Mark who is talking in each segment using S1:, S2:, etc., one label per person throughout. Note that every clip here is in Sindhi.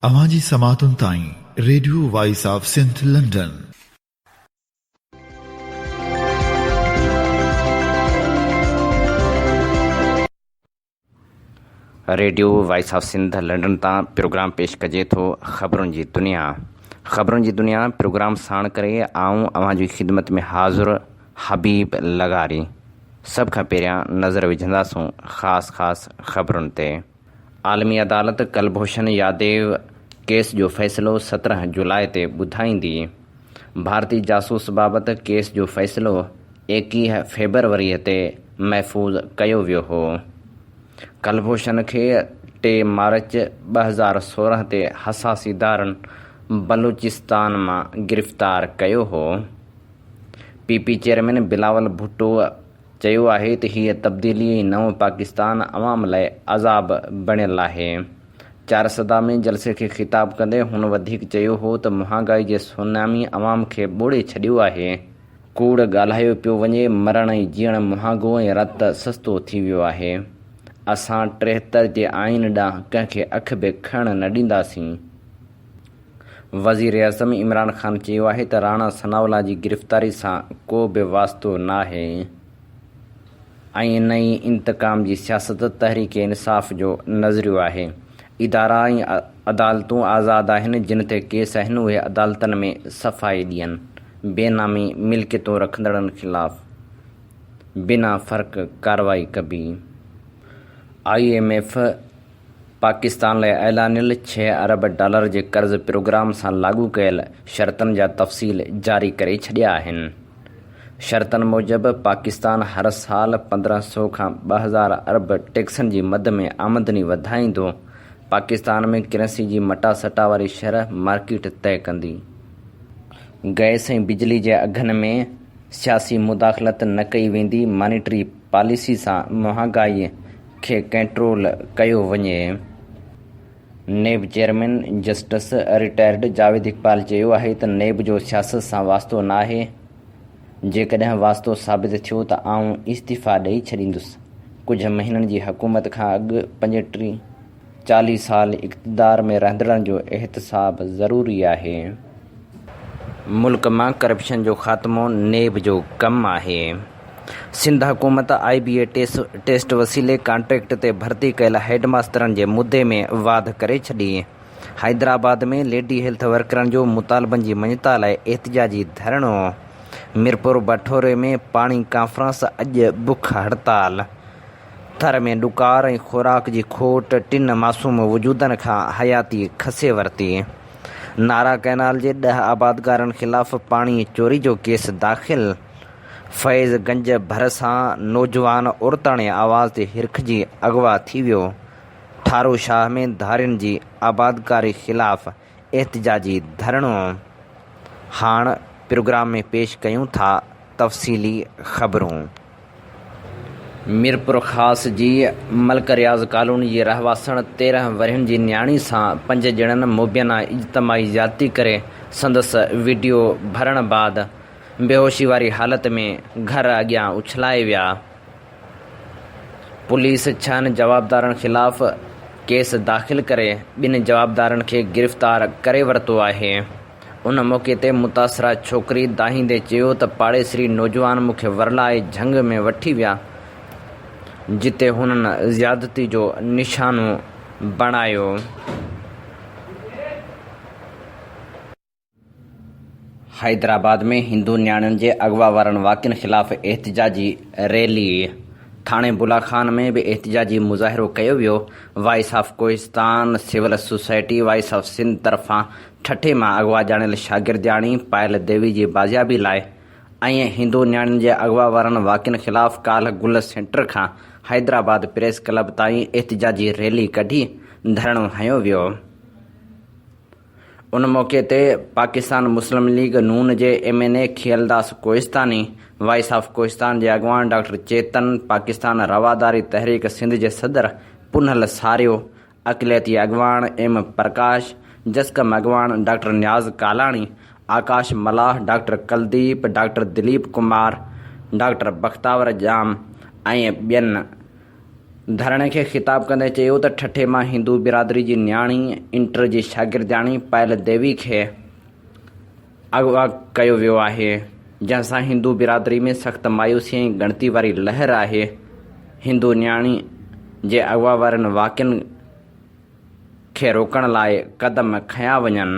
S1: اوهان جي سماعتن تائين radio voice of Sindh London.
S2: Radio voice of Sindh London تان پروگرام پيش ڪجي ٿو خبرن جي دنيا خبرن جي دنيا پروگرام ساڻ ڪري آئون اوهان جي خدمت ۾ حاضر حبيب لغاري سڀ کان پهريان نظر وجهنداسون خاص خاص خبرن تي. عالمي عدالت ڪلڀوشن ياديو ڪيس جو فيصلو سترهن جولاء تي ٻڌائيندي. ڀارتي جاسوس بابت ڪيس جو فيصلو ايڪيهه فيبروريء تي محفوظ ڪيو ويو هو. ڪلڀوشن کي ٽي مارچ ٻه هزار سورهن تي حساسي دارن بلوچستان مان گرفتار ڪيو هو. P P chairman Bilawal Bhutto چيو آهي ته هيء تبديلي ۽ نئون پاڪستان عوام لاء عذاب بڻيل آهي. چارسده ۾ جلسي کي خطاب ڪندي هن وڌيڪ چيو هو ته مهانگائي جي سونامي عوام کي ٻوڙي ڇڏيو آهي. ڪوڙ ڳالهايو پيو وڃي، مرڻ ۽ جيئڻ مهانگو ۽ رت سستو ٿي ويو آهي. اسان ٽيهتر جي آئين ڏانهن ڪنهن کي اک به کڻڻ نه ڏينداسين. وزيراعظم عمران خان چيو آهي ته راڻا ثناء الله جي گرفتاري سان ڪو به واسطو ناهي ۽ نه ئي انتقام جي سياست تحريڪ انصاف جو نظريو آهي، ادارا ۽ عدالتون آزاد آهن، جن تي ڪيس آهن اهي عدالتن ۾ صفائي ڏين، بي نامي ملڪيتون رکندڙن خلاف بنا فرق ڪارروائي ڪبي، آء ايم ايف. پاڪستان لاء اعلانيل ڇهه ارب ڊالر جي قرض پروگرام سان لاڳو ڪيل شرطن جا تفصيل جاري ڪري ڇڏيا آهن. شرطن موجب پاڪستان هر سال پندرهن سؤ کان ٻه هزار ارب ٽيڪسن جي مد ۾ آمدني وڌائيندو، پاڪستان ۾ ڪرنسي جي مٽا سٽا واري شرح مارڪيٽ طئي ڪندي، گئس ۽ بجلي جي اگهن ۾ سياسي مداخلت نه ڪئي ويندي، مانيٽري. پاليسي سان مهانگائي کي ڪنٽرول ڪيو وڃي، NAB chairman justice retired Javed Iqbal چيو آهي ته نيب جو سياست سان واسطو ناهي، جيڪڏهن واسطو ثابت ٿيو ته آئون استعيفيٰ ڏئي ڇڏيندس، ڪجهه مهينن جي حڪومت کان اڳ پنجٽيهه چاليهه سال اقتدار ۾ رهندڙن جو احتساب ضروري آهي، ملڪ مان ڪرپشن جو خاتمو نيب جو ڪم آهي، سنڌ حڪومت آء بي اي ٽيسٽ وسيلي ڪانٽريڪٽ تي ڀرتي ڪيل هيڊ ماسترن جي مدي ۾ واڌ ڪري ڇڏي، حيدرآباد ۾ ليڊي هيلٿ ورڪرن جو مطالبن جي مڃتا لاء احتجاجي ڌرڻو، ميرپوربٺوري ۾ پاڻي ڪانفرنس اڄ بک هڙتال. ٿر ۾ ڏڪار ۽ خوراڪ جي کوٽ ٽن معصوم وجودن کان حياتي کسي ورتي، نارا ڪئنال جي ڏهه آبادگارن خلاف پاڻي چوري جو ڪيس داخل، فيض گنج ڀرسان نوجوان عورتاڻي آواز تي هرکجي اغوا ٿي ويو، ٺاروشاهه ۾ ڌارين جي آبادگاري خلاف احتجاجي ڌرڻو هاڻ پروگرام ۾ پيش ڪيون ٿا تفصيلي خبرون. ميرپورخاص جي ملڪ رياض ڪالوني جي رهواسڻ تيرنهن ورهين جي نياڻي سان پنج ڄڻن مبينا اجتماعي زيادتي ڪري سندس وڊيو ڀرڻ بعد بيهوشي واري حالت ۾ گهر اڳيان اڇلائي ويا، پوليس ڇهن جوابدارن خلاف ڪيس داخل ڪري ٻن جوابدارن کي گرفتار ڪري ورتو آهي. ان موقعي تي متاثره ڇوڪري دانهيندي چيو ته پاڙيسري نوجوان مون کي ورلائي جهنگ ۾ وٺي ويا جتي هنن زيادتي جو نشانو بڻايو. حيدرآباد ۾ هندو نياڻين جي اغوا وارن واقعن خلاف احتجاجي ريلي، ٿاڻي بلا خان ۾ به احتجاجي مظاهرو ڪيو ويو، voice of Kohistan civil society voice of Sindh طرفان ٺٽي مان اغوا ڄاڻيل شاگردياڻي پائل ديوي جي بازيابي لاء ۽ هندو نياڻين جي اغوا وارن واقعن خلاف ڪالهه گل سينٽر کان حيدرآباد پريس ڪلب تائين احتجاجي ريلي ڪڍي ڌرڻو هنيو ويو. ان موقعي تي پاڪستان مسلم ليگ نون جي M N A Khialdas Kohistani, voice of Kohistan جي اڳواڻ ڊاڪٽر چيتن، پاڪستان رواداري تحريڪ سنڌ جي صدر پونهل ساريو، اقليتي اڳواڻ ايم پرڪاش، جسقم اڳواڻ doctor Niaz Kalani, Akash Mallah, doctor Kuldeep, doctor Dilip Kumar, doctor Bakhtawar Jam ۽ ٻين ڌرڻي کي خطاب ڪندي چيو ته ٺٽي مان هندو برادري جي نياڻي انٽر جي شاگردياڻي پائل ديوي کي اغوا ڪيو ويو آهي جنهن سان هندو برادري ۾ سخت مايوسي ۽ ڳڻتي واري لهر آهي هندو نياڻي جي اغوا وارن واقعن کي روڪڻ لاء قدم کنيا وڃن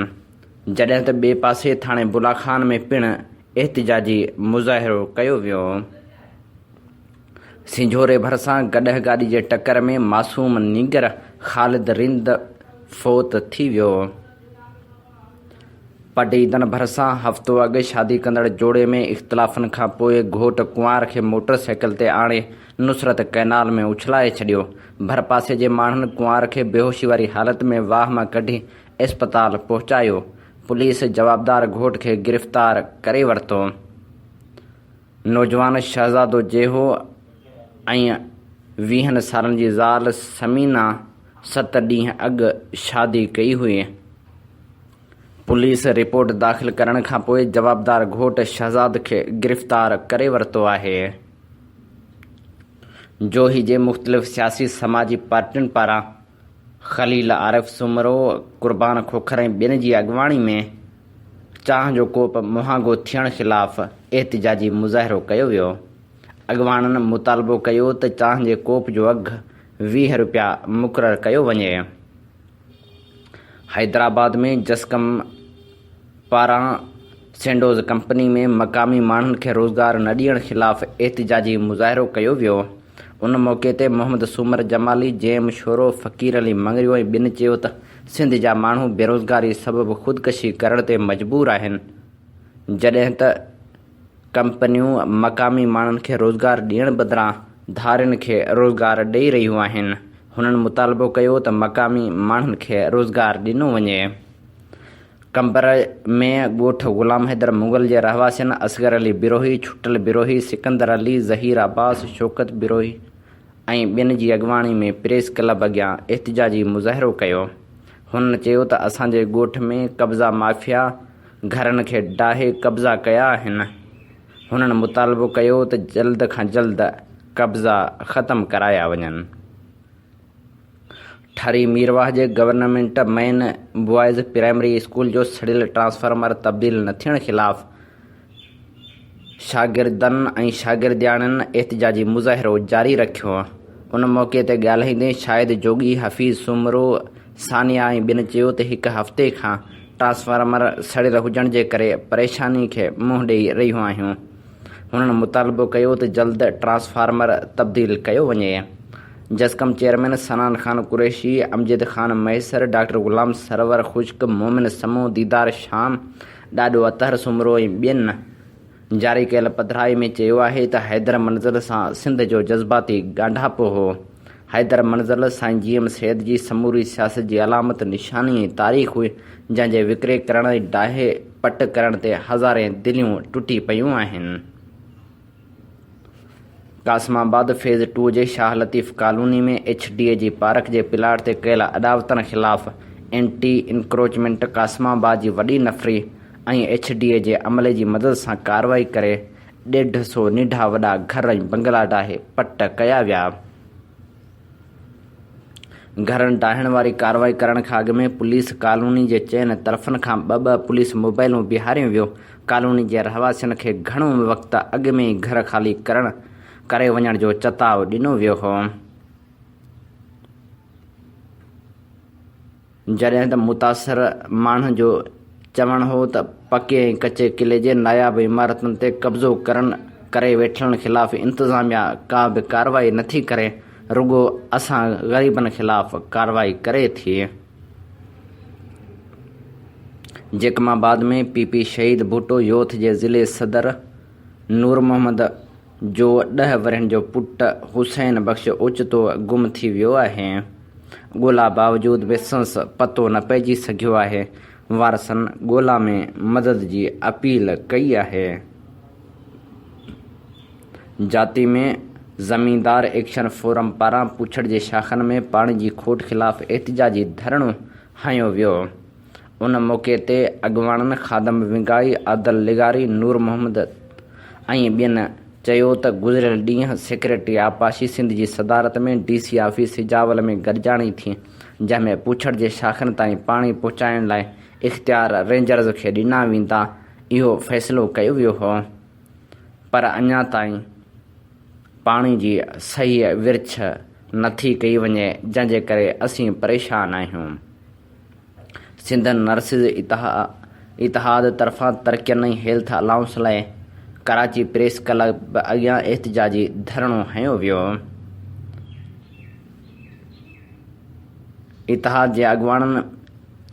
S2: جڏهن ته ٻئي پاسي ٿاڻي بلا خان ۾ پڻ احتجاجي مظاهرو ڪيو ويو. سنجهوري ڀرسان گڏهه گاڏي جي ٽڪر ۾ معصوم نينگر خالد رند فوت ٿي ويو. پڊعيدن ڀرسان هفتو اڳ شادي ڪندڙ جوڙي ۾ اختلافن کان پوء گهوٽ ڪنوار کي موٽر سائيڪل تي آڻي نصرت ڪئنال ۾ اڇلائي ڇڏيو. ڀرپاسي جي ماڻهن ڪنوار کي بيهوشي واري حالت ۾ واهه مان ڪڍي اسپتال پهچايو. پوليس جوابدار گهوٽ کي گرفتار ڪري ورتو. نوجوان شهزادو جيهو ۽ ويهن سالن جي زال ثمينه ست ڏينهن اڳ شادي ڪئي هئي. پوليس رپورٽ داخل ڪرڻ کان پوء جوابدار گهوٽ شهزاد کي گرفتار ڪري ورتو آهي. جوهي جي مختلف سياسي سماجي پارٽين پاران خليل عارف سومرو، قربان کوکر ۽ ٻين جي اڳواڻي ۾ چانهه جو ڪوپ مهانگو ٿيڻ خلاف احتجاجي مظاهرو ڪيو ويو. اڳواڻن مطالبو ڪيو ته چانهه جي ڪوپ جو اگهه ويهه رپيا مقرر ڪيو وڃي. حيدرآباد ۾ جسقم، پاران سينڊوز ڪمپني ۾ مقامي ماڻهن کي روزگار نه ڏيڻ خلاف احتجاجي مظاهرو ڪيو ويو ان موقعي تي محمد سومر جمالي، جيم شورو، فقير علي مڱريو ۽ ٻين چيو ته سنڌ جا ماڻهو بيروزگاري سبب خودڪشي ڪرڻ تي مجبور آهن جڏهن ته ڪمپنيون مقامي ماڻهن کي روزگار ڏيڻ بدران ڌارين کي روزگار ڏئي رهيون آهن هنن مطالبو ڪيو ته مقامي ماڻهن کي روزگار ڏنو وڃي. قمبر ۾ ڳوٺ غلام حيدر مغل جي رهواسين اصغر علي بروهي، ڇٽل بروهي، سڪندر علي، ظهير عباس، شوڪت بروهي ۽ ٻين جي اڳواڻي ۾ پريس ڪلب اڳيان احتجاجي مظاهرو ڪيو. هنن چيو ته اسان جي ڳوٺ ۾ قبضا مافيا گهرن کي ڊاهي قبضا ڪيا آهن. هنن مطالبو ڪيو ته جلد کان جلد قبضا ختم ڪرايا وڃن. ٺاري ميرواهه جي government main boys primary school جو سڙيل ٽرانسفارمر تبديل نه ٿيڻ خلاف شاگردن ۽ شاگردياڻين احتجاجي مظاهرو جاري رکيو ان موقعي تي ڳالهائيندي شاهد جوڳي حفيظ سومرو ثانيه ۽ ٻين چيو ته هڪ هفتي کان ٽرانسفارمر سڙيل هجڻ جي ڪري پريشاني کي منهن ڏئي رهيون آهيون هنن مطالبو ڪيو ته جلد ٽرانسفارمر تبديل ڪيو وڃي. جسقم چيئرمين سنان خان قريشي، امجد خان مهيسر، ڊاڪٽر غلام سرور خشڪ، مومن سمون، ديدار شام، ڏاڏو اطهر سومرو ۽ ٻين جاري ڪيل پڌرائي ۾ چيو آهي ته حيدر منزل سان سنڌ جو جذباتي ڳانڍاپو هو. حيدر منزل سائين جي ايم سيد جي سموري سياست جي علامت نشاني ۽ تاريخ هئي، جنهن جي وڪري ڪرڻ ۽ ڊاهي پٽ ڪرڻ تي هزارين دليون ٽٽي پيون آهن. قاسم آباد فيز ٽو جي Shah Latif colony ۾ H D A جي پارڪ جي پلاٽ تي ڪيل اڏاوتن خلاف اينٽي انڪروچمينٽ قاسم آباد جي وڏي نفري ۽ ايڇ ڊي اي جي عملي جي مدد سان ڪارروائي ڪري ڏيڍ سو ننڍا وڏا گهر ۽ بنگلا ڊاهي پٽ ڪيا ويا. گهرن ڊاهڻ واري ڪارروائي ڪرڻ کان اڳ ۾ پوليس ڪالوني جي چئن طرفن کان ٻه ٻه پوليس موبائلون بيهاريون ويو. ڪالوني جي رهواسين کي گهڻو وقت اڳ ۾ ئي گهر خالي ڪرڻ ڪري وڃڻ جو چتاء ڏنو ويو هو. جڏهن ته متاثر ماڻهن جو چوڻ هو ته پڪي ۽ ڪچي قلعي جي ناياب عمارتن تي قبضو ڪرڻ ڪري ويٺلن خلاف انتظاميا ڪا به ڪارروائي نٿي ڪري رڳو اسان غريبن خلاف ڪارروائي ڪري ٿي. جيڪب آباد ۾ پي پي شهيد ڀٽو يوٿ جي ضلعي صدر نورمحمد جو ڏهه ورهين جو پٽ حسين بخش اوچتو گم ٿي ويو آهي، ڳولا باوجود به سنس پتو نه پئجي سگهيو آهي، وارثن ڳولا ۾ مدد جي اپيل ڪئي آهي. جاتي ۾ زميندار ايڪشن فورم پاران پوڇڙ جي شاخن ۾ پاڻي جي کوٽ خلاف احتجاجي ڌرڻو هنيو ويو. ان موقعي تي اڳواڻن خادم ونگائي، عادل لغاري، نور محمد ۽ ٻين چيو ته گذريل ڏينهن سيڪريٽري آبپاشي سنڌ جي صدارت ۾ ڊي سي آفيس سجاول ۾ گڏجاڻي ٿي جنهن ۾ پوڇڙ جي شاخن تائين پاڻي پهچائڻ لاء اختيار رينجرز کي ڏنا ويندا اهو فيصلو ڪيو ويو هو پر اڃا تائين پاڻي جي صحيح ورڇ نٿي ڪئي وڃي جنهن جي ڪري اسين پريشان آهيون. سنڌ نرسز اتحاد طرفان ترڪين ۽ هيلٿ الائونس لاء ڪراچي پريس ڪلب اڳيان احتجاجي ڌرڻو هنيو ويو. اتحاد جي اڳواڻن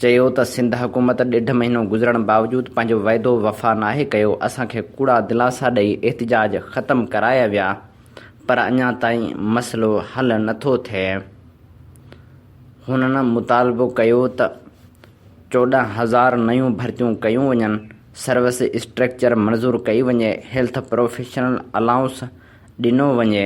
S2: چيو ته سنڌ حڪومت ڏيڍ مهينو گذرڻ باوجود پنهنجو وعدو وفا ناهي ڪيو، اسان کي ڪوڙا دلاسا ڏئي احتجاج ختم ڪرايا ويا پر اڃا تائين مسئلو حل نٿو ٿئي. هنن مطالبو ڪيو ته چوڏهن هزار نيون ڀرتيون ڪيون وڃن، سروس اسٽرڪچر منظور ڪئي وڃي، هيلٿ پروفيشنل الائونس ڏنو وڃي،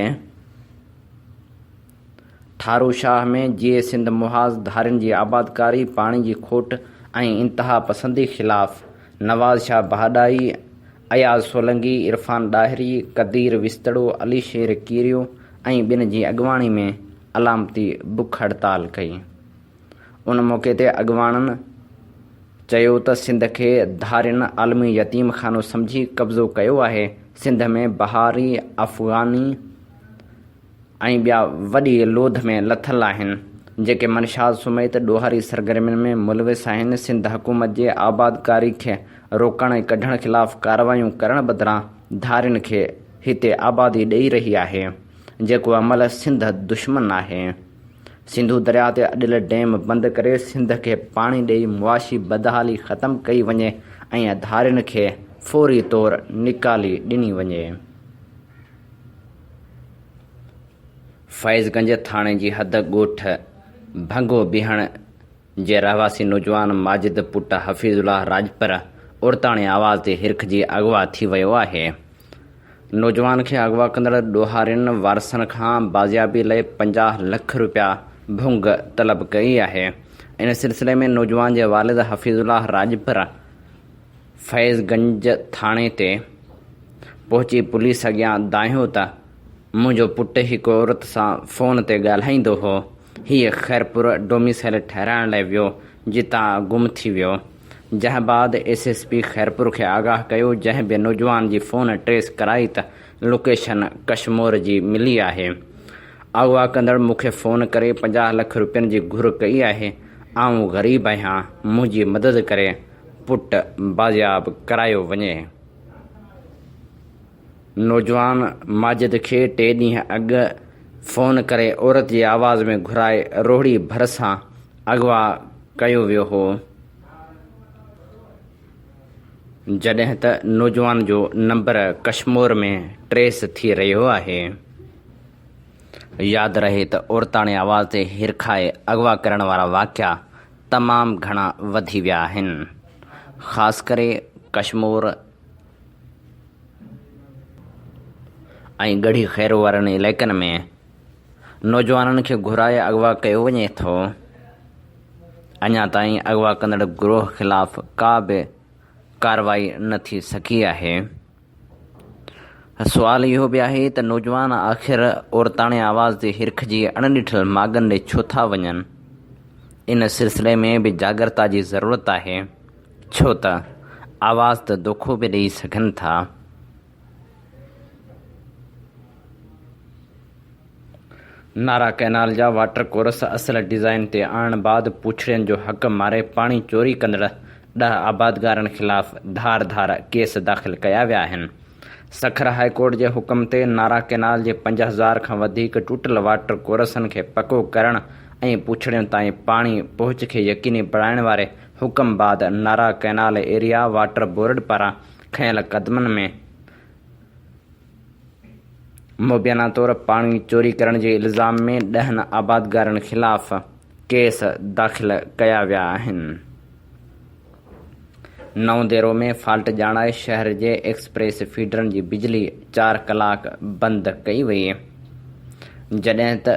S2: ٺارو شاهه ۾ جيئي سنڌ محاذ ڌارين جي آبادڪاري، پاڻي جي کوٽ ۽ انتهاپسندي خلاف نواز شاهه بهاڏائي، اياز سولنگي، عرفان ڏاهري، قدير وستڙو، علي شير ڪيريو ۽ ٻين جي اڳواڻي ۾ علامتي بک هڙتال ڪئي. ان موقعي تي اڳواڻن چيو ته سنڌ کي ڌارين عالمي يتيم خانو سمجهي قبضو ڪيو آهي، سنڌ ۾ بهاري، افغاني ۽ ٻيا وڏي لوڌ ۾ لٿل آهن، جيڪي منشاد سميت ڏوهاري سرگرمين ۾ ملوث آهن، سنڌ حڪومت جي آبادڪاري کي روڪڻ ۽ ڪڍڻ خلاف ڪارروايون ڪرڻ بدران ڌارين کي هتي آبادي ڏئي رهي آهي. جيڪو عمل سنڌ دشمن آهي، سنڌو درياء تي اڏيل ڊيم بند ڪري سنڌ کي پاڻي ڏئي معاشي بدحالي ختم ڪئي وڃي ۽ اڌارين کي فوري طور نيڪالي ڏني وڃي. فيض گنج ٿاڻي جي حد ڳوٺ ڀنگو بيهڻ، جي رهواسي نوجوان ماجد پٽ حفيظ الله راڄپر عورتاڻي آواز تي هرکجي اغوا ٿي ويو آهي. نوجوان کي اغوا ڪندڙ ڏوهارين وارثن کان بازيابي لئي پنجاهه لک رپيا ڀونگ طلب ڪئي آهي. ان سلسلي ۾ نوجوان جي والد حفيظ الله راڄپر فيض گنج ٿاڻي تي پهچي پوليس اڳيان دانهيو ته منهنجو پٽ هڪ عورت سان فون تي ڳالهائيندو هو، هيء خيرپور ڊوميسائيل ٺهرائڻ لاء ويو، جتان گم ٿي ويو، جنهن بعد ايس ايس پي خيرپور کي آگاهه ڪيو، جنهن به نوجوان جي فون ٽريس ڪرائي ته لوڪيشن ڪشمور جي ملي آهي. اغوا ڪندڙ مون کي فون ڪري پنجاهه لک روپين جي گهر ڪئي آهي، آئون غريب آهيان، منهنجي مدد ڪري پٽ بازياب ڪرايو وڃي. نوجوان ماجد کي ٽي ڏينهن اڳ فون ڪري عورت جي آواز ۾ گهرائي روهڙي ڀرسان اغوا ڪيو ويو هو، جڏهن ته نوجوان جو نمبر ڪشمور ۾ ٽريس ٿي رهيو آهي. ياد رهي ته عورتاڻي آواز تي هرکائي اغوا ڪرڻ وارا واقعا تمام گهڻا وڌي ويا آهن، خاص ڪري ڪشمور، ۽ ڳڙهي خير وارن علائقن ۾ نوجوانن کي گهرائي اغوا ڪيو وڃي ٿو اڃا تائين اغوا ڪندڙ گروهه خلاف ڪا به ڪارروائي نه ٿي سگهي آهي سوال اهو به آهي ته نوجوان آخر عورتاڻي آواز تي هرک جي اڻڏٺل ماڳن ڏي ڇو ٿا وڃن ان سلسلي ۾ به جاڳرتا جي ضرورت آهي ڇو ته آواز ته دوکو به ڏئي سگهن ٿا. نارا ڪئنال جا واٽر ڪورس اصل ڊيزائن تي آڻڻ بعد پوڇڙين جو حق ماري پاڻي چوري ڪندڙ ڏهه آبادگارن خلاف ڌار ڌار ڪيس داخل ڪيا ويا آهن. سکر هاء ڪورٽ جي حڪم تي نارا ڪئنال جي پنج هزار کان وڌيڪ ٽٽل واٽر ڪورسن کي پڪو ڪرڻ ۽ پوڇڙين تائين پاڻي پهچ کي يقيني بڻائڻ واري حڪم بعد Nara canal area water board پاران کنيل قدمن ۾ مبينا طور پاڻي چوري ڪرڻ جي الزام ۾ ڏهن آبادگارن خلاف ڪيس داخل ڪيا ويا آهن. نئون ديرو ۾ فالٽ ڄاڻائي شهر جي ايڪسپريس فيڊرن جي بجلي چار ڪلاڪ بند ڪئي وئي جڏهن ته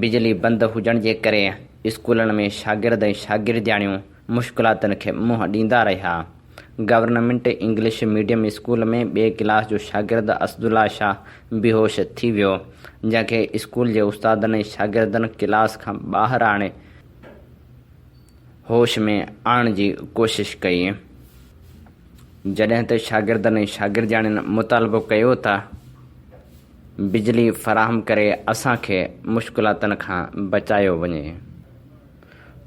S2: بجلي بند هجڻ جي ڪري اسڪولن ۾ شاگرد ۽ شاگردياڻيون مشڪلاتن کي منهن ڏيندا رهيا. گورنمينٽ انگلش ميڊيم اسڪول ۾ ٻئي ڪلاس جو شاگرد اسدالله شاهه بيهوش ٿي ويو، جنهن کي اسڪول جي استادن ۽ شاگردن ڪلاس کان ٻاهر آڻي هوش ۾ آڻڻ جي ڪوشش ڪئي، جڏهن ته شاگردن ۽ شاگردياڻين مطالبو ڪيو ته. بجلي فراهم ڪري اسان کي مشڪلاتن کان بچايو وڃي.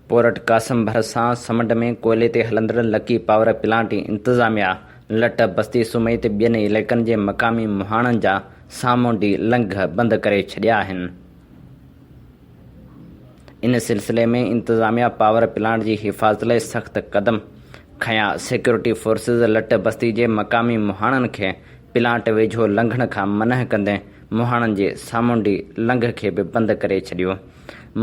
S2: پورٽ قاسم ڀرسان سمنڊ ۾ ڪوئلي تي هلندڙ لڪي پاور پلانٽ جي انتظاميا لٽ بستي سومهي تي ٻين علائقن جي مقامي مهاڻن جا سامونڊي لنگهه بند ڪري ڇڏيا آهن. ان سلسلي ۾ انتظاميا پاور پلانٽ جي حفاظت لاء سخت قدم کنيا، سيڪيورٽي فورسز لٽ بستي جي مقامي مهاڻن کي پلانٽ ويجهو لنگهڻ کان منع ڪندي مهاڻن جي سامونڊي لنگهه کي به بند ڪري ڇڏيو.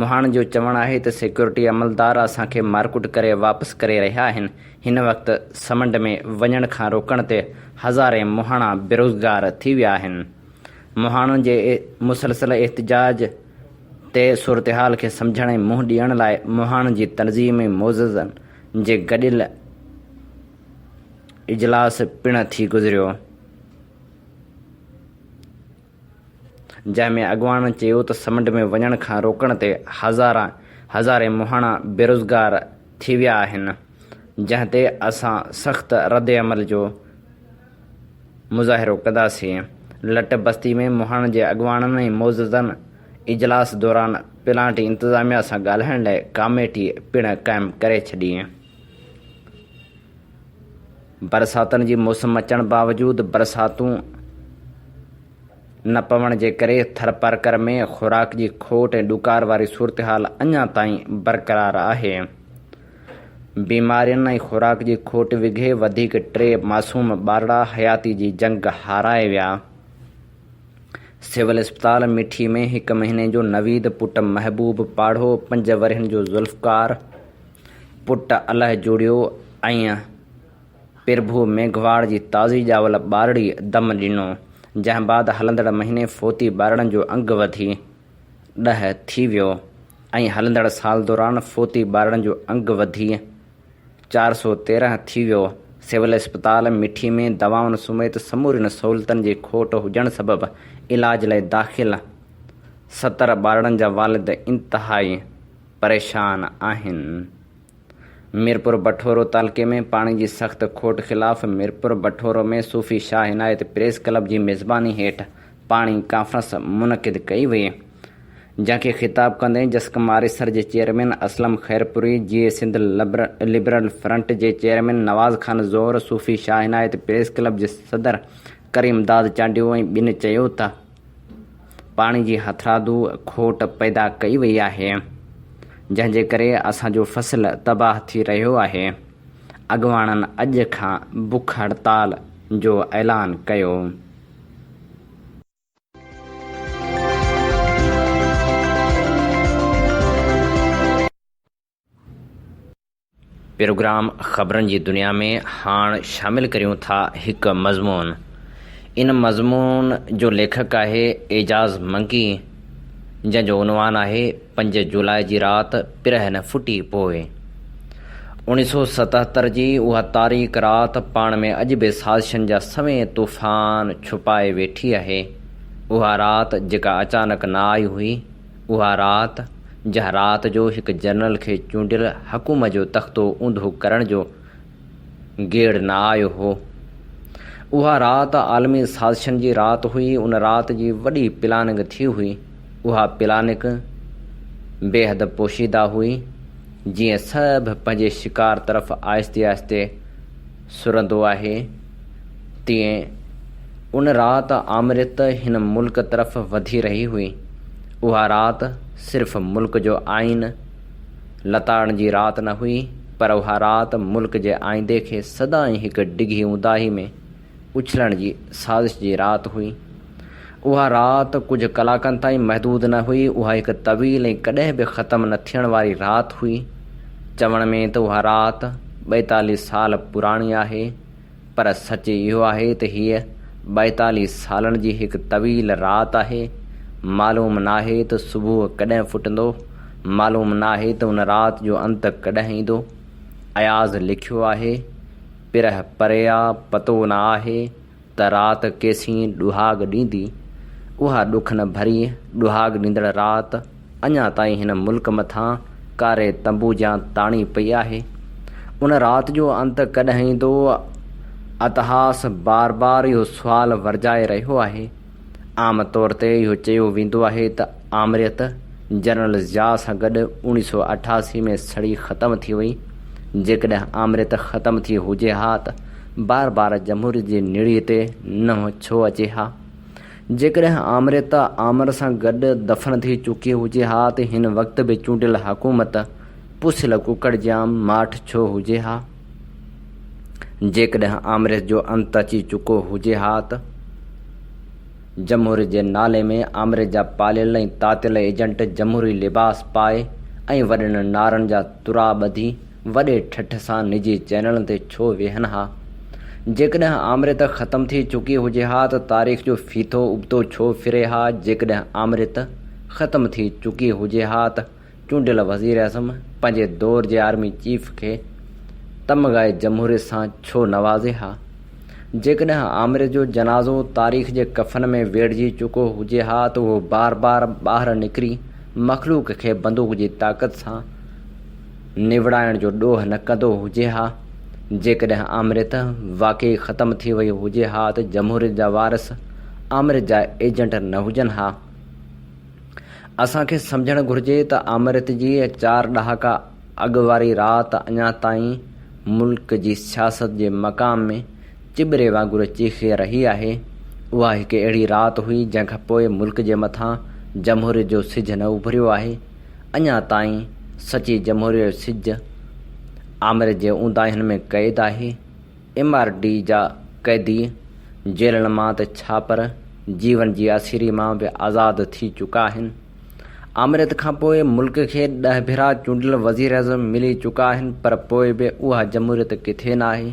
S2: مهاڻن جو چوڻ آهي ته سيڪيورٽي عملدار اسان کي مارڪٽ ڪري واپس ڪري رهيا آهن، هن وقت سمنڊ ۾ وڃڻ کان روڪڻ تي هزارين مهاڻا بيروزگار ٿي ويا آهن. مهاڻن جي مسلسل احتجاج تي صورتحال کي سمجهڻ ۽ منهن ڏيڻ لاء مهاڻن جي تنظيم ۽ معززن جي گڏيل اجلاس پڻ ٿي گذريو، جنهن ۾ اڳواڻن چيو ته سمنڊ ۾ وڃڻ کان روڪڻ تي هزاران هزارين مهاڻا بيروزگار ٿي ويا آهن، جنهن تي اسان سخت ردعمل جو مظاهرو ڪنداسين. لٽ بستي ۾ مهاڻن جي اڳواڻن ۽ معززن اجلاس دوران پلانٽ انتظاميا سان ڳالهائڻ لاء ڪاميٽي پڻ قائم ڪري ڇڏي. برساتن جي موسم اچڻ باوجود برساتون نه پوڻ جي ڪري ٿرپارڪر ۾ خوراڪ جي کوٽ ۽ ڏڪار واري صورتحال اڃا تائين برقرار آهي. بيمارين ۽ خوراڪ جي کوٽ وگهي وڌيڪ ٽي معصوم ٻارڙا حياتي جي جنگ هارائي ويا. سول اسپتال مٺي ۾ هڪ مهيني جو نويد پٽ محبوب پاڙهو پنج ورهين جو ذوالفقار، پٽ الاهي جوڙيو ۽ پرڀو ميگهواڙ جي تازي ڄاول ٻارڙي دم ڏنو، جنهن بعد هلندڙ مهيني فوتي ٻارڙن جو انگ وڌي ڏهه ٿي ويو ۽ هلندڙ سال دوران فوتي ٻارڙن جو انگ وڌي چار سؤ تيرنهن ٿي ويو. سول اسپتال مٺي ۾ دوائن سميت سمورين سهولتن جي کوٽ هجڻ سبب علاج لاء داخل ستر ٻارڙن جا والد انتهائي. پريشان آهن. ميرپور بٺورو تعلقي ۾ پاڻي جي سخت کوٽ خلاف ميرپور بٺورو ۾ صوفي شاهه عنايت پريس ڪلب جي ميزباني هيٺ پاڻي ڪانفرنس منعقد ڪئي وئي جنهن کي خطاب ڪندي جسقم آريسر جي chairman Aslam Khairpuri, Jeay Sindh liberal front جي chairman Nawaz Khan Zour, Sufi Shah Inayat press club جي صدر ڪريم داد چانڊيو ۽ ٻين چيو ته. پاڻي جي هٿرادو کوٽ پيدا ڪئي وئي آهي جنهن جي ڪري اسان جو فصل تباهه ٿي رهيو آهي، اڳواڻن اڄ کان بک هڙتال جو اعلان ڪيو. پروگرام خبرن جي دنيا ۾ هاڻ شامل ڪريون ٿا هڪ مضمون. ان مضمون جو ليکڪ آهي اعجاز منڪي جنهن جو عنوان آهي پنج جولاء جي رات پرهن ڦٽي پوء. اوڻيهه سؤ ستهتر جي اها تاريڪ رات پاڻ ۾ اڄ به سازشن جا سوين طوفان ڇپائي ويٺي آهي. اها رات جيڪا اچانڪ نه آئي هئي. اها رات، جنهن رات جو هڪ جنرل کي چونڊيل حڪومت جو تختو اونڌو ڪرڻ جو گيڙ نه آيو هو، اها رات عالمي سازشن جي رات هئي، ان رات جي وڏي پلاننگ ٿي هئي، اها پلاننگ بيحد پوشيده هئي، جيئن سڀ پنهنجي شڪار طرف آهستي آهستي سرندو آهي، تيئن ان رات آمريت هن ملڪ طرف وڌي رهي هئي. اها رات صرف ملڪ جو آئين لتاڙڻ جي رات نه هئي، پر اها رات ملڪ جي آئيندي کي سدائين هڪ ڊگهي اونداهي ۾ اڇلڻ جي سازش جي رات هئي. اها رات ڪجهه ڪلاڪن تائين محدود نه هئي، اها هڪ طويل ۽ ڪڏهن به ختم نه ٿيڻ واري رات هئي. چوڻ ۾ ته اها رات ٻائيتاليهه سال پراڻي آهي، پر سچ اهو آهي ته هيء ٻائيتاليهه سالن جي هڪ طويل رات آهي. معلوم ناهي ته صبح ڪڏهن ڦٽندو، معلوم ناهي ته ان رات جو انت ڪڏهن ايندو. اياز لکيو آهي، پرهه پري آ، پتو نه آهي، ته رات ڪيسين ڏهاڳ ڏيندي، اها ڏکن ڀري ڏهاڳ ڏيندڙ رات اڃا تائين هن ملڪ مٿان ڪاري تنبو جيان تاڻي پئي آهي. ان رات جو انت ڪڏهن ايندو؟ اتهاس بار بار اهو سوال ورجائي رهيو آهي. عام طور تي اهو چيو ويندو آهي ته آمريت جنرل ضياء سان گڏ اوڻي سؤ اٺاسي ۾ سڙي ختم ٿي وئي، جيڪڏهن آمريت ختم ٿي هجي ها ته بار بار جمهوريت جي نڙيء تي ننهن ڇو اچي ها؟ جيڪڏهن آمريت آمر سان گڏ دفن ٿي چڪي هجي ها ته هن وقت به چونڊيل حڪومت پوسيل ڪڪڙ جيان ماٺ ڇو هجي ها؟ جيڪڏهن آمريت جو انت اچي چڪو هجي ها ته جمهوريت جي نالي ۾ آمريت جا پاليل ۽ تاتيل ايجنٽ جمهوري لباس پائي ۽ وڏن نعرن جا ترا ٻڌي وڏي ٺٺ سان نجي چينلن تي ڇو ويهن ها؟ جيڪڏهن آمريت ختم ٿي چڪي هجي ها ته تاريخ جو ڦيٿو ابتو ڇو ڦري ها؟ جيڪڏهن آمريت ختم ٿي چڪي هجي ها ته چونڊيل وزيراعظم پنهنجي دور جي آرمي چيف کي تمغه جمهوريت سان ڇو نوازي ها؟ جيڪڏهن آمريت جو جنازو تاريخ جي ڪفن ۾ ويڙهجي چڪو هجي ها ته هو بار بار ٻاهر نڪري مخلوق کي بندوق جي طاقت سان نوڙائڻ جو ڏوهه نه ڪندو هجي ها، جيڪڏهن آمريت واقعي ختم ٿي وئي هجي ها ته جمهوريت جا وارث آمريت جا ايجنٽ نه هجن ها. اسان کي سمجهڻ گهرجي ته آمريت جي چار ڏهاڪا اڳ واري رات اڃا تائين ملڪ جي سياست جي مقام ۾ چٻري وانگر چيخي رهي آهي، اها هڪ اهڙي رات هئي جنهن کان پوء ملڪ جي مٿان جمهوريت جو سج نه اڀريو آهي. اڃا تائين سچي جمهوريت جو سج آمريت جي اونداهين ۾ قيد آهي. ايم آر ڊي جا قيدي جيلن مان ته ڇا پر جيون جي اسيري مان به آزاد ٿي چڪا آهن. آمريت کان پوء ملڪ کي ڏهه ڀيرا چونڊيل وزيراعظم ملي چڪا آهن پر پوء به اها جمهوريت ڪٿي ناهي.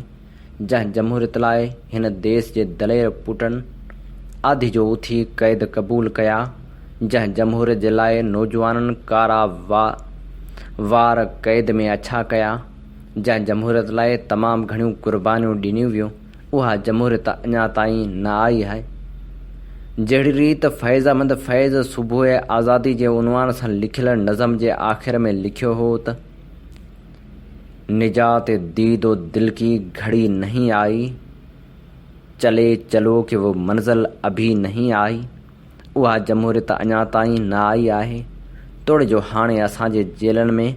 S2: جنهن جمهوريت لاء هن ديس جي دلير پوٽن آڌي جو اٿي قيد قبول ڪيا، جنهن جمهوريت جي لاء نوجوانن ڪارا وا وار قيد ۾ اڇا ڪيا، جنهن جمهوريت لاء تمام گهڻيون قربانيون ڏنيون ويون، اها جمهوريت اڃا تائين نه آئي آهي. جهڙي ريت فيضامند فيض صبح آزادي جي عنوان سان لکيل نظم جي آخر ۾ لکيو هو ته. نجات ديد و دل ڪي گھڙي نھين آئي، چلي چلو ڪي و منزل ابھي نھين آئي، اھا جمھوريت اڃا تائين نه آئي آھي، توڙي جو ھاڻي اسان جي جيلن ۾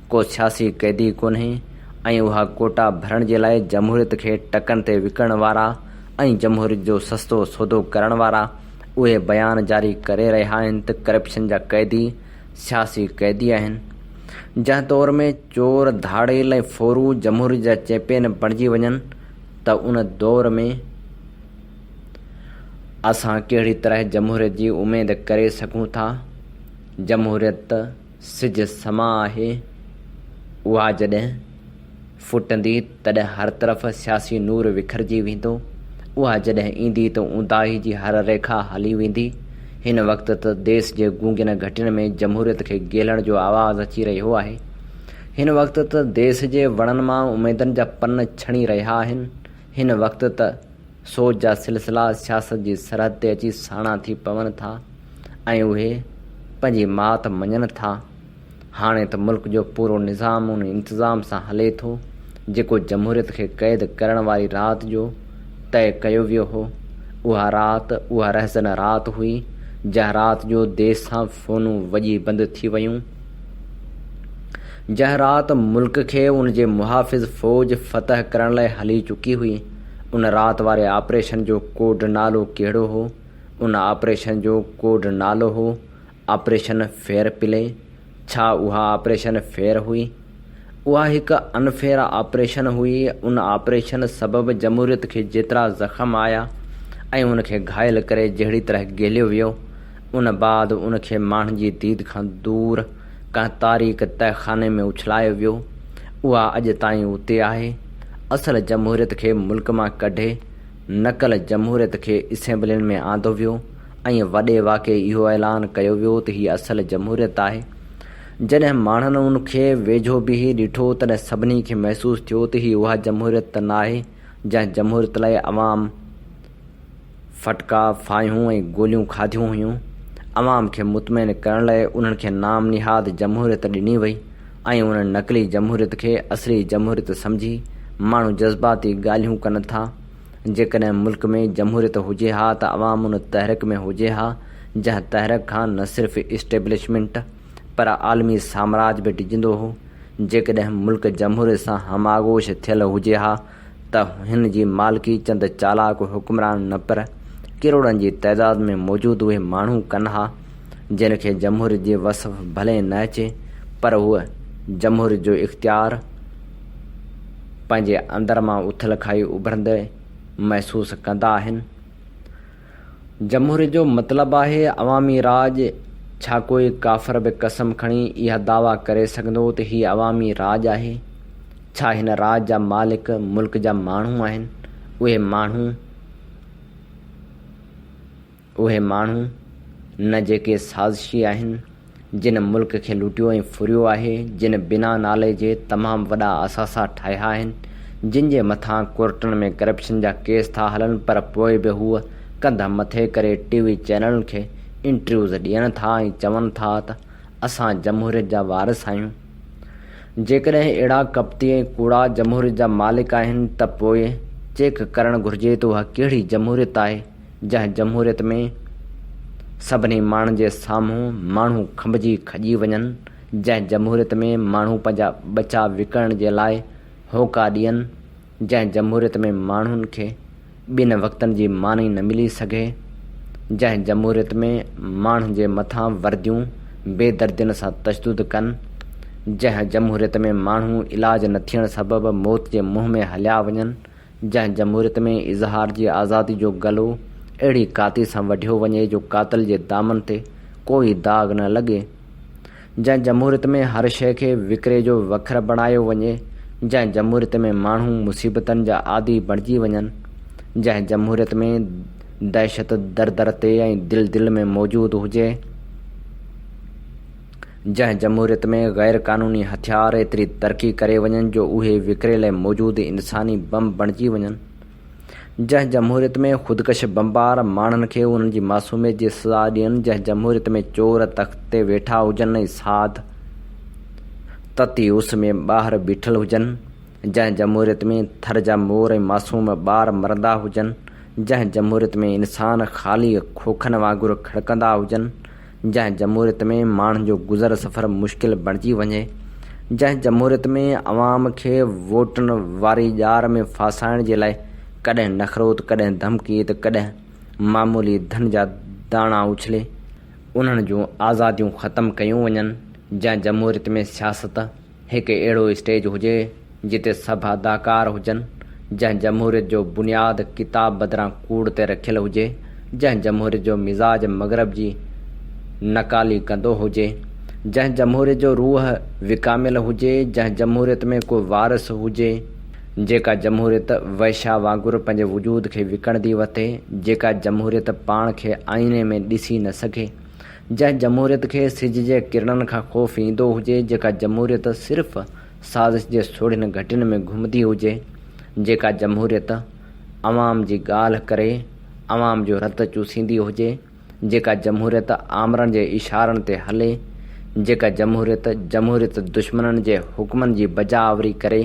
S2: ڪو سياسي قيدي ڪونھي ۽ اھا ڪوٽا ڀرڻ جي لاء جمھوريت کي ٽڪن تي وڪڻڻ وارا ۽ جمھوريت جو سستو سودو ڪرڻ وارا اھي بيان جاري ڪري رھيا آھن ته ڪرپشن جا قيدي سياسي قيدي آهن، جنهن دور ۾ چور، ڌاڙيل ۽ ڦورو جمهوريت جا چيمپين بڻجي وڃن ته ان دور ۾ اسان ڪهڙي طرح جمهوريت جي اميد ڪري سگهون ٿا؟ جمهوريت ته سج سمان آهي، اها جڏهن. ڦٽندي تڏهن هر طرف سياسي نور وکرجي ويندو. اها جڏهن ايندي ته اونداهي جي هر ريکا هلي ويندي. هن وقت ته ديس جي گونگين گهٽين ۾ جمهوريت کي گيلڻ جو آواز اچي رهيو آهي. هن وقت ته ديس جي وڻن مان اميدن جا پن ڇڻي رهيا آهن. هن وقت ته سوچ جا سلسلا سياست جي سرحد تي اچي ساڻا ٿي پون ٿا ۽ اهي پنهنجي مات مڃن ٿا. هاڻي ته ملڪ جو پورو نظام ان انتظام سان هلي ٿو، جيڪو جمهوريت کي قيد ڪرڻ واري رات جو طئي ڪيو ويو هو. اها رات، اها رهزنه رات هئي، جنهن رات جو ديس سان فونون وڄي بند ٿي ويون. جنهن رات ملڪ کي ان جي محافظ فوج فتح ڪرڻ لاء هلي چڪي هئي. ان رات واري آپريشن جو ڪوڊ نالو ڪهڙو هو؟ ان آپريشن جو ڪوڊ نالو هو، آپريشن فيئر پلي، ڇا اها آپريشن فيئر هئي؟ اها هڪ انفيئر آپريشن هئي، ان آپريشن سبب جمهوريت کي جيترا زخم آيا ۽ ان کي گهائل ڪري جهڙي طرح گهليو ويو، ان بعد ان کي ماڻهن جي ديد کان دور ڪنهن تاريڪ تهه خاني ۾ اڇلايو ويو، اها اڄ تائين اتي آهي، اصل جمهوريت کي ملڪ مان ڪڍي نقل جمهوريت کي اسيمبلين ۾ آندو ويو. ائين وڏي واڪي اهو اعلان ڪيو ويو ته هيء اصل جمهوريت آهي. جڏهن ماڻهن ان کي ويجهو بيهي ڏٺو، تڏهن سڀني کي محسوس ٿيو ته هيء اها جمهوريت ته ناهي، جنهن جمهوريت لاء عوام ڦٽڪا، ڦاهيون ۽ گوليون کاڌيون هيون. عوام کي مطمئن ڪرڻ لاء انهن کي نام نهاد جمهوريت ڏني وئي ۽ انهن نقلي جمهوريت کي اصلي جمهوريت سمجهي ماڻهو جذباتي ڳالهيون ڪن ٿا. جيڪڏهن ملڪ ۾ جمهوريت هجي ها ته عوام ان تحرڪ ۾ هجي ها جنهن تحرڪ کان نه صرف اسٽيبلشمينٽ پر عالمي سامراج به ڊڄندو هو، جيڪڏهن ملڪ جمهوريت سان هماغوش ٿيل هجي ها ته هن جي مالڪي چند چالاڪ حڪمران نه پر ڪروڙن جي تعداد ۾ موجود اهي ماڻهو ڪن ها جن کي جمهوريت جي وصف ڀلي نه اچي پر هو جمهوريت جو اختيار پنهنجي اندر مان اٿل کائي اڀرندي محسوس ڪندا آهن. جمهوريت جو مطلب آهي عوامي راڄ، ڇا ڪوئي ڪافر به قسم کڻي اها دعويٰ ڪري سگهندو ته هي عوامي راڄ آهي؟ ڇا هن راڄ جا مالڪ ملڪ جا ماڻهو آهن؟ اهي ماڻهو. اهي ماڻهو نه جيڪي سازشي آهن، جن ملڪ کي لٽيو ۽ ڦريو آهي، جن بنا نالي جي تمام وڏا اثاثا ٺاهيا آهن، جن جي مٿان ڪورٽن ۾ ڪرپشن جا ڪيس ٿا هلن پر پوء به هو ڪنڌ مٿي ڪري ٽي وي چينلن کي انٽرويوز ڏين ٿا ۽ چون ٿا ته اسان جمهوريت جا وارث آهيون. جيڪڏهن اهڙا ڪپتي ۽ ڪوڙا جمهوريت جا مالڪ آهن ته پوء چيڪ ڪرڻ گهرجي ته اها ڪهڙي جمهوريت آهي؟ جنهن جمهوريت ۾ سڀني ماڻهن جي سامهون ماڻهو کنڀجي کڄي وڃن، جنهن جمهوريت ۾ ماڻهو پنهنجا ٻچا وڪڻڻ جي لاء هوڪا ڏين، جنهن جمهوريت ۾ ماڻهن کي ٻن وقتن جي ماني نه ملي سگهي، جنهن جمهوريت ۾ ماڻهن جي مٿان ورديون بي دردين سان تشدد ڪن، جنهن جمهوريت ۾ ماڻهو علاج نه ٿيڻ سبب موت جي منهن ۾ هليا وڃن، جنهن جمهوريت ۾ اظهار جي آزادي جو گلو اهڙي ڪاتي سان وڍيو وڃي جو قاتل جي دامن تي ڪو ئي داغ نه لڳي، جنهن جمهوريت ۾ هر شيء کي وڪري جو وکر بڻايو وڃي، جنهن جمهوريت ۾ ماڻهو مصيبتن جا عادي بڻجي وڃن، جنهن جمهوريت ۾ دهشت در در تي ۽ دل دل ۾ موجود هجي. جنهن جمهوريت ۾ غير قانوني هٿيار ايتري ترقي ڪري وڃن جو اهي وڪري لئه موجود انساني بم بڻجي وڃن. جنهن جمهوريت ۾ خودڪش بمبار ماڻهن کي انهن جي معصوميت جي سزا ڏين جنهن جمهوريت ۾ چور تخت تي ويٺا هجن ۽ ساڌ تتي اس ۾ ٻاهر بيٺل هجن. جنهن جمهوريت ۾ ٿر جا مور ۽ معصوم ٻار مرندا هجن. جنهن جمهوريت ۾ انسان خالي کوکن وانگر کڙڪندا هجن. جنهن جمهوريت ۾ ماڻهن جو گذر سفر مشڪل بڻجي وڃي، جنهن جمهوريت ۾ عوام کي ووٽن واري ڄار ۾ ڦاسائڻ جي لاء ڪڏهن نخرو ته ڪڏهن ڌمڪي ته ڪڏهن معمولي ڌن جا داڻا اڇلي انهن جون آزاديون ختم ڪيون وڃن، جنهن جمهوريت ۾ سياست. هڪ اهڙو اسٽيج هجي جتي سڀ اداڪار هجن، جنهن جمهوريت جو بنياد ڪتاب بدران ڪوڙ تي رکيل هجي، جنهن جمهوريت جو مزاج مغرب جي نقالي ڪندو هجي، جنهن جمهوريت جو روح وڪاميل هجي، جنهن جمهوريت ۾ ڪو وارث هجي، جيڪا جمهوريت وئشا وانگر پنهنجي وجود کي وڪڻندي وتي، جيڪا جمهوريت پاڻ کي آئيني ۾ ڏسي نه سگهي، جنهن جمهوريت کي سج جي ڪرڻن کان خوف ايندو هجي، جيڪا جمهوريت صرف سازش جي سوڙهين گهٽين ۾ گهمندي هجي، جيڪا جمهوريت عوام جي ڳالهه ڪري عوام جو رت چوسيندي هجي، جيڪا جمهوريت آمرن جي اشارن تي هلي، جيڪا جمهوريت جمهوريت دشمنن جي حڪمن جي بجا آوري ڪري،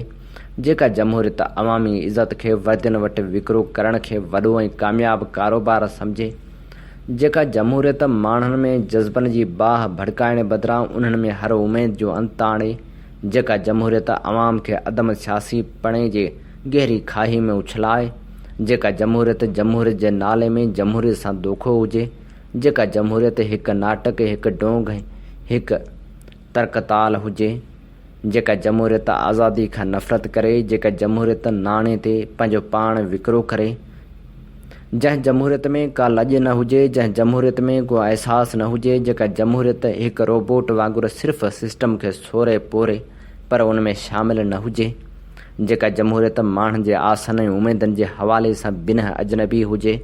S2: جيڪا جمهوريت عوامي عزت کي وردين وٽ وڪرو ڪرڻ کي وڏو ۽ ڪامياب ڪاروبار سمجهي، جيڪا جمهوريت ماڻهن ۾ جذبن جي باهه ڀڙڪائڻ بدران انهن ۾ هر اميد جو انت آڻي، جيڪا جمهوريت عوام کي عدم سياسي پڻي جي گهري کاهي ۾ اڇلائي، جيڪا جمهوريت جمهوريت جي نالي ۾ جمهوريت سان دوکو هجي، جيڪا جمهوريت هڪ ناٽڪ، هڪ ڊونگ، هڪ ترڪتال هجي. جيڪا جمهوريت آزادي کان نفرت ڪري، جيڪا جمهوريت ناڻي تي پنهنجو پاڻ وڪرو ڪري، جنهن جمهوريت ۾ ڪا لڄ نه هجي، جنهن جمهوريت ۾ ڪو احساس نه هجي، جيڪا جمهوريت هڪ روبوٽ وانگر صرف سسٽم کي سوري پوري پر ان ۾ شامل نه هجي. جيڪا جمهوريت ماڻهن جي آسن ۽ اميدن جي حوالي سان بنهه اجنبي هجي،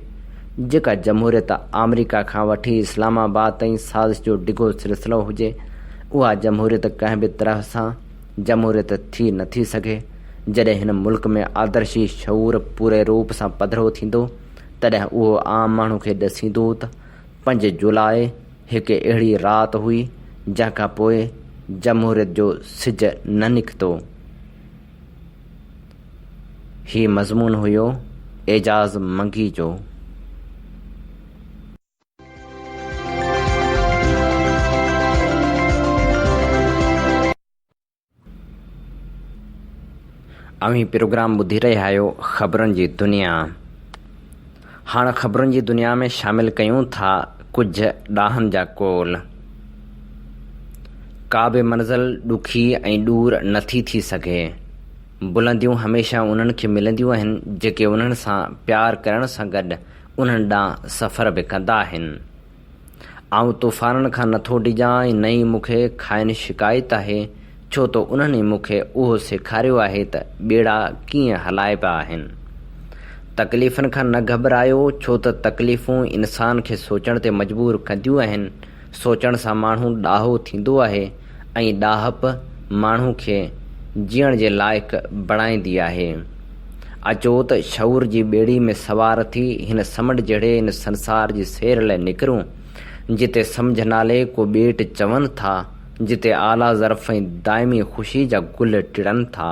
S2: جيڪا جمهوريت آمريڪا کان وٺي اسلام آباد تائين سازش جو ڊگهو سلسلو هجي، اها جمهوريت ڪنهن به طرح سان جمهوريت ٿي نه ٿي سگهي. جڏهن هن ملڪ ۾ آدرشي شعور پوري روپ سان پڌرو ٿيندو، تڏهن اهو عام ماڻهو کي ڏسيندو ته پنج جولاء، هڪ اهڙي رات هئي، جنهن کان پوء جمهوريت جو سج نه نڪتو. هي مضمون هيو اعجاز منگي جو. اوهين پروگرام ٻڌي رهيا آهيو خبرن جي دنيا. هاڻ خبرن جي دنيا ۾ شامل ڪيون ٿا ڪجهه ڏاهن جا قول. ڪا به منزل ڏکي ۽ ڏور نه ٿي ٿي سگهي. بلنديون هميشه انهن کي ملنديون آهن جيڪي انهن سان پيار ڪرڻ سان گڏ انهن ڏانهن سفر به ڪندا آهن. آئون طوفانن کان نه ٿو ڊڄان ۽ نه ئي مون کي کانئن شڪايت آهي، ڇو ته انهن ئي مون کي اهو سيکاريو آهي ته ٻيڙا ڪيئن هلائبا آهن. تڪليفن کان نه گهٻرايو، ڇو ته تڪليفون انسان کي سوچڻ تي مجبور ڪنديون آهن، سوچڻ سان ماڻهو ڏاهو ٿيندو آهي، ۽ ڏاهپ ماڻهو کي جيئڻ جي لائق بڻائيندي آهي. اچو ته شعور جي ٻيڙي ۾ سوار ٿي هن سمنڊ جهڙي ان سنسار جي سير لئه نڪرون، جتي سمجهه نالي ڪو ٻيٽ چون ٿا، جتي اعليٰ ظرف ۽ دائمي خوشي جا گل ٽڙن ٿا.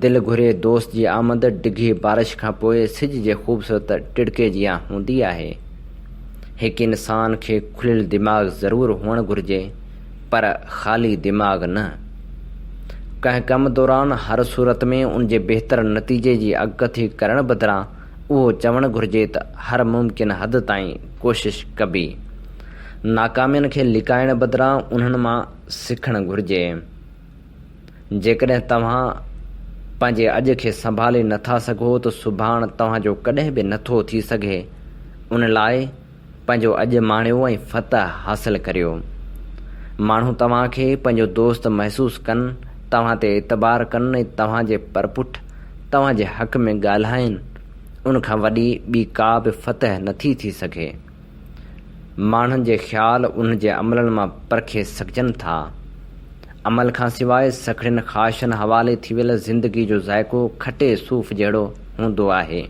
S2: دل گهري دوست جي آمد ڊگهي بارش کان پوء سج جي خوبصورت ٽڙڪي جيان هوندي آهي. هڪ انسان کي کليل دماغ ضرور هئڻ گهرجي پر خالي دماغ نه. ڪنهن ڪم دوران هر صورت ۾ ان جي بهتر نتيجي جي اڳڪٿي ڪرڻ بدران اهو چوڻ گهرجي ته هر ممڪن حد تائين ڪوشش ڪبي. ناڪامين کي لڪائڻ بدران انهن مان سکڻ گهرجي. جيڪڏهن توهان پنهنجي اڄ کي سنڀالي نٿا سگهو ته سڀاڻ توهان جو ڪڏهن به نٿو ٿي سگهي، ان لاء پنهنجو اڄ ماڻيو ۽ فتح حاصل ڪريو. ماڻهو توهان کي پنهنجو دوست محسوس ڪن، توهان تي اعتبار ڪن ۽ توهان جي پرپٺ توهان جي حق ۾ ڳالهائين، ان کان وڏي ٻي ڪا به فتح نٿي ٿي سگهي. ماڻهن جي خيال ان جي عملن مان پرکي سگهجن ٿا. عمل کان سواء سکڙين خواهشن حوالي ٿي ويل زندگي جو ذائقو کٽي صوف جهڙو هوندو آهي.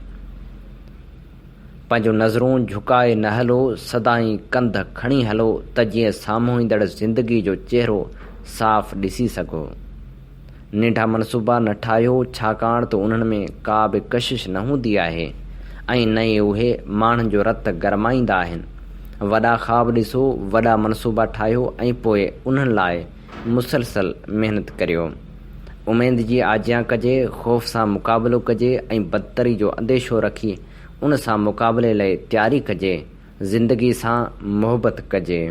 S2: پنهنجون نظرون جهڪائي نه هلو، سدائين ڪنڌ کڻي هلو ته جيئن سامهون ايندڙ زندگي جو چهرو صاف ڏسي سگهو. ننڍا منصوبا نه ٺاهيو ڇاڪاڻ ته انهن ۾ ڪا به ڪشش نه هوندي آهي ۽ نه ئي اهي ماڻهن جو رت گرمائيندا آهن. وڏا خواب ڏسو، وڏا منصوبا ٺاهيو ۽ پوء انهن لاء مسلسل محنت ڪريو. اميد جي آجيان ڪجي، خوف سان مقابلو ڪجي ۽ بدتري جو انديشو رکي ان سان مقابلي لئي تياري ڪجي. زندگي سان محبت ڪجي.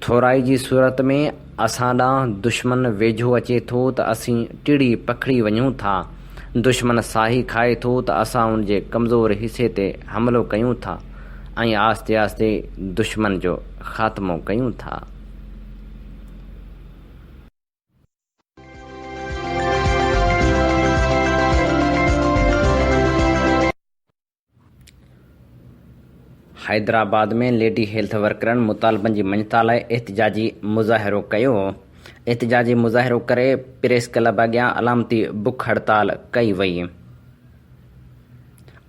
S2: ٿورائي جي صورت ۾ اسان ڏانهن دشمن ويجهو اچي ٿو ته اسين ٽڙي پکڙي وڃون ٿا. دشمن ساهي کائي ٿو ته اسان ان جي ڪمزور حصي تي حملو ڪيون ٿا ۽ آهستي آهستي دشمن جو خاتمو ڪيون ٿا. حيدرآباد ۾ ليڊي هيلٿ ورڪرن مطالبن جي مڃتا لاء احتجاجي مظاهرو ڪيو، احتجاجي مظاهرو ڪري پريس ڪلب اڳيان علامتي بک هڙتال ڪئي وئي،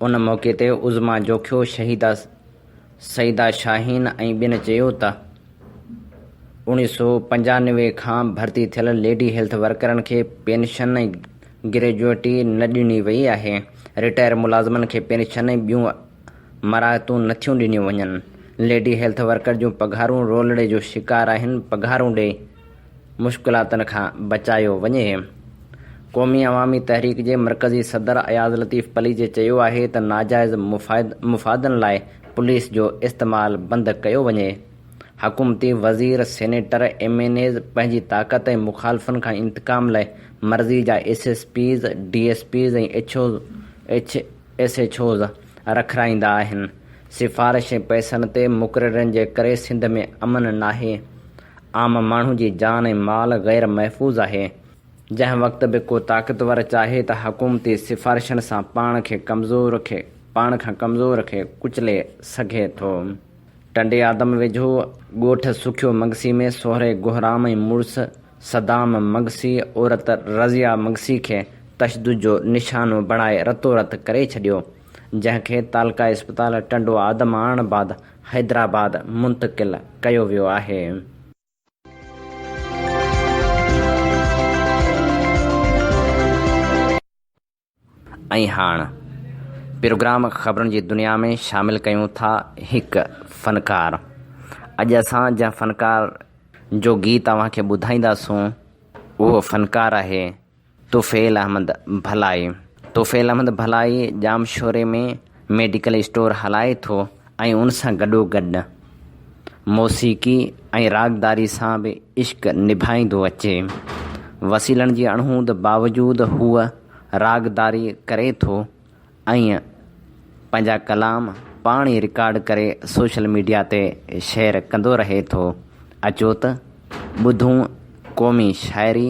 S2: ان موقعي تي عظميٰ جوکيو، شهيده سيده شاهين ۽ ٻين چيو ته اوڻيهه سؤ پنجانوي کان ڀرتي ٿيل ليڊي هيلٿ ورڪرن کي پينشن ۽ گريجوئٽي نه ڏني وئي آهي، رٽائر ملازمن کي پينشن ۽ ٻيون مراعتون نٿيون ڏنيون وڃن، ليڊي هيلٿ ورڪر جون پگهارون رولڙي جو شڪار آهن، پگهارون ڏئي. مشڪلاتن کان بچايو وڃي. قومي عوامي تحريڪ جي مرڪزي صدر اياز لطيف پليجي چيو آهي ته ناجائز مفادن لاء پوليس جو استعمال بند ڪيو وڃي، حڪومتي وزير، سينيٽر، ايم اين ايز پنهنجي طاقت ۽ مخالفن کان انتقام لاء مرضي جا S S Ps, D S Ps ۽ S H Os رکرائيندا آهن، سفارشي پئسن تي مقررين جي ڪري سنڌ ۾ امن ناهي، عام ماڻهو جي جان ۽ مال غير محفوظ آهي، جنهن وقت به ڪو طاقتور چاهي ته حڪومتي سفارشن سان پاڻ کي ڪمزور کي پاڻ کان ڪمزور کي ڪچلي سگهي ٿو. ٽنڊي آدم ويجهو ڳوٺ سکيو مگسي ۾ سهري گهرام ۽ مڙس صدام مگسي عورت رضيه مگسي کي تشدد جو نشانو بڻائي رتو رت ڪري ڇڏيو، جنهن کي تعلقه اسپتال ٽنڊو آدم آڻڻ بعد حيدرآباد منتقل ڪيو ويو آهي. ۽ هاڻ پروگرام خبرن جي دنيا ۾ شامل ڪيون ٿا هڪ فنڪار. اڄ اسان جنهن فنڪار جو گيت اوهان کي ٻڌائينداسون اهو فنڪار آهي. طفيل احمد ڀلائي، طفيل احمد ڀلائي ڄامشوري ۾ ميڊيڪل اسٽور هلائي ٿو ۽ ان سان گڏوگڏ موسيقي ۽ راڳداري سان به عشق نڀائيندو اچي. وسيلن جي اڻهوند باوجود هو راڳداري ڪري ٿو ۽ پنهنجا ڪلام پاڻ ئي رڪارڊ ڪري سوشل ميڊيا تي شيئر ڪندو رهي ٿو. اچو ته ٻڌون قومي شاعري.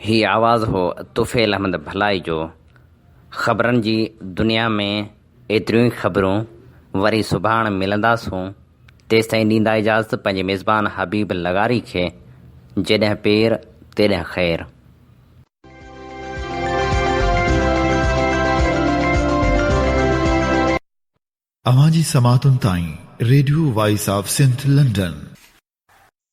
S2: هي آواز هو طفيل احمد ڀلائي جو. خبرن جي دنيا ۾ ايتريون ئي خبرون، وري سڀاڻ ملنداسون، تيستائين ڏيندا اجازت پنهنجي ميزبان حبيب لغاري کي، جيڏهن پير تيڏهن خير.
S1: اوهان جي سماعتن تائين radio voice of Sindh London.